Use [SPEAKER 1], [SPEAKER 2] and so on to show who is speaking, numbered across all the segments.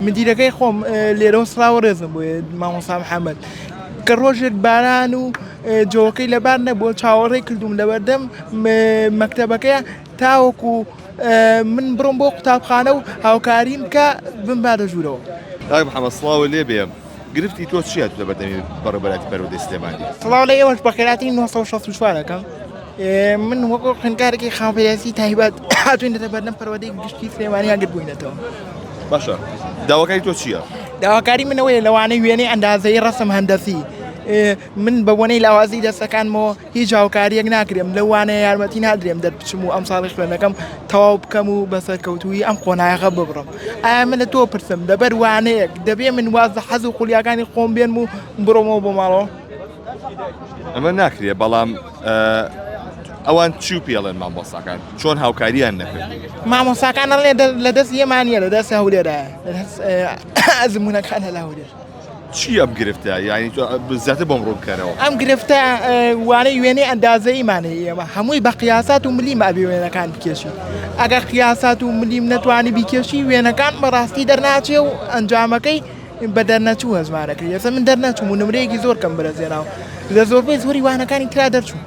[SPEAKER 1] مدیرەکەی خۆم لێرەوە سڵاو و ڕێزم بۆ یێت مامۆسا محەمەد کە ڕۆژێک باران و جۆکەی لەبار نەبووە چاوەڕێ کردووم لەبەردەم مەکتەبەکەیە تاوەکو من بڕۆم بۆ قوتابخانە و هاوکاریم کە بمباتە ژوورەوە. کاک محمد سڵاوو
[SPEAKER 2] لێ بێ. گرفتی تۆ چیە لە بەردەمی بەڕێبەراتی پەروەردەی سلێمانی؟ سڵاو لە ئێوەش بە
[SPEAKER 1] خێراتی 1964 دەکەم من وەکو خوێندکارێکی خاوەپێداسی تایبەت هاتوینەتە بەردەم پەروەردەی گشتی سلێمانی ئەگر بووینەتەوە باشە
[SPEAKER 2] داواکاری تۆ چییە؟ داواکاری منەوەی
[SPEAKER 1] لەوانەی وێنەی ئەندازەی ڕسم هەندەسی من بە بۆنەی لاوازی دەستەکانمەوە هیچ هاوکارییەک ناکرێم، لەوانەیە یارمەتی نادرێم دەربچم و ئەمساڵی خوێندنەکەم تەواو بکەم و بە سەرکەوتوویی ئەم قۆناغە ببڕم. ئایا من لە تۆ پرسم، لەبەر وانەیەک، دەبێ من واز لە حەز و خولیاکانی خۆم بێنم و بڕۆمەوە بۆ ماڵەوە؟
[SPEAKER 2] ئەمە ناکرێ، بەڵام ئەوان چی پێڵێن مامۆستاکان؟ چۆن هاوکارییان نەکرد؟ مامۆستاکان ئەڵێ
[SPEAKER 1] لە دەستی ئێمە نییە، لە دەستی هەولێرایە، ئەزموونەکانە لە هەولێر. چی ئەم گرفتە
[SPEAKER 2] یانی تۆ زیاتر بۆم ڕوون بکەرەوە ئەم گرفتە
[SPEAKER 1] وانەی وێنەی ئەندازەیمانەیە ئێمە هەمووی بە قیاسات و ملی مابی وێنەکان بکێشی ئەگەر قیاسات و ملیم نەتوانی بیکێشی وێنەکان بەڕاستی دەرناچێ و ئەنجامەکەی بە دەرنەچوو هەزمانەکە یەزە من دەرنەچوو و نمرەیەکی زۆر کەم برەزێناوە لە زۆربەی زۆری وانەکانی تررا دەرچوو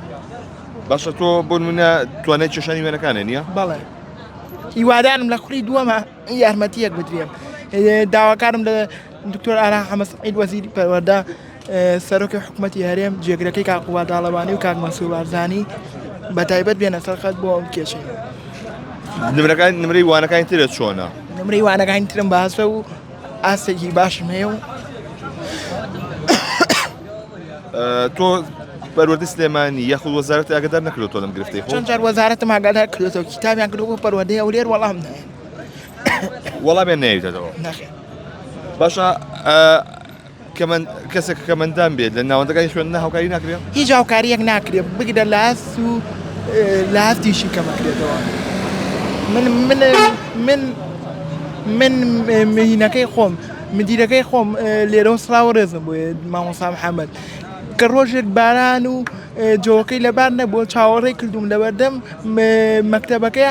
[SPEAKER 1] باشە
[SPEAKER 2] تۆ بۆ منە توانای چێشانی وێنەکانە نییە بەڵێ هیوادارم
[SPEAKER 1] لە خولی دووەمە یارمەتییەک بدرێم. داواکارم لە دکتۆر ئارا حەمە سەعید وەزیری پەروەردە، سەرۆکی حکوومەتی هەرێم، جێگرەکەی کاک قوباد تاڵەبانی و کاک مەنسوور بارزانی بەتایبەت بێنە سەر خەت بۆ ئەم کێشەیە. نمرەکان
[SPEAKER 2] نمرەی وانەکانی ترت چۆنە؟ نمرەی وانەکانی
[SPEAKER 1] ترم باشە و ئاستێکی باشم هەیە و
[SPEAKER 2] تۆ پەروەردە سلێمانی یاخود وەزارەت ئاگدار نەکردو تۆ لەم گرفتی خۆ چەند جار وەزارەتم ئاگادار
[SPEAKER 1] کردێتەوە کتابیان کردو بۆ پەروەردەی هەولێر وەڵام نایە
[SPEAKER 2] وەڵامیان نەیەوێتەوە نەخێر
[SPEAKER 1] باشە
[SPEAKER 2] کەسێک کەمەندان بێت لە ناوەندەکانی خوێن نە هاوکاری ناکرێت هیچ هاوکاریەک
[SPEAKER 1] ناکرێت بگرە لاس و لاسیشی کەمەکرێتەوە من من من من مهینەکەی خۆم مدیرەکەی خۆم لێرە سلااو ڕێزم بۆ مامۆسا محەممەد کە ڕۆژێک باران و جۆکەی لەبار نەبووە چاوەڕێ کردوم لەبەردەم مەکتتەبەکەیە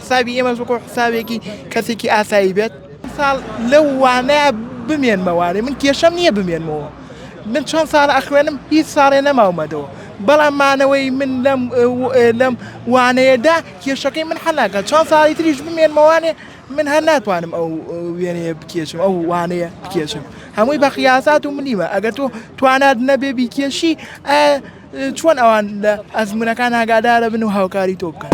[SPEAKER 1] حسابی ئێمەش وەکو حسابێکی کەسێکی ئاسایی بێت. ساڵ لەو وانەیە بمێنمەوانێ من کێشەم نییە بمێنمەوە من چەند ساڵە ئەخوێنم هیچ ساڵێ نەماومەدەوە بەڵام مانەوەی من لەم لەم وانەیەدا کێشەکەی من حەلاکە چەند ساڵی تریش بمێنمەوانێ من هەر ناتوانم ئەو وێنەیە بکێشم ئەو وانەیە بکێشم هەمووی بە خیاسات و ملیمە ئەگەر تۆ توانات نەبێ بیکێشی چۆن ئەوان لە ئەزمونونەکان ئاگادارە بن و هاوکاری تۆ بکەن.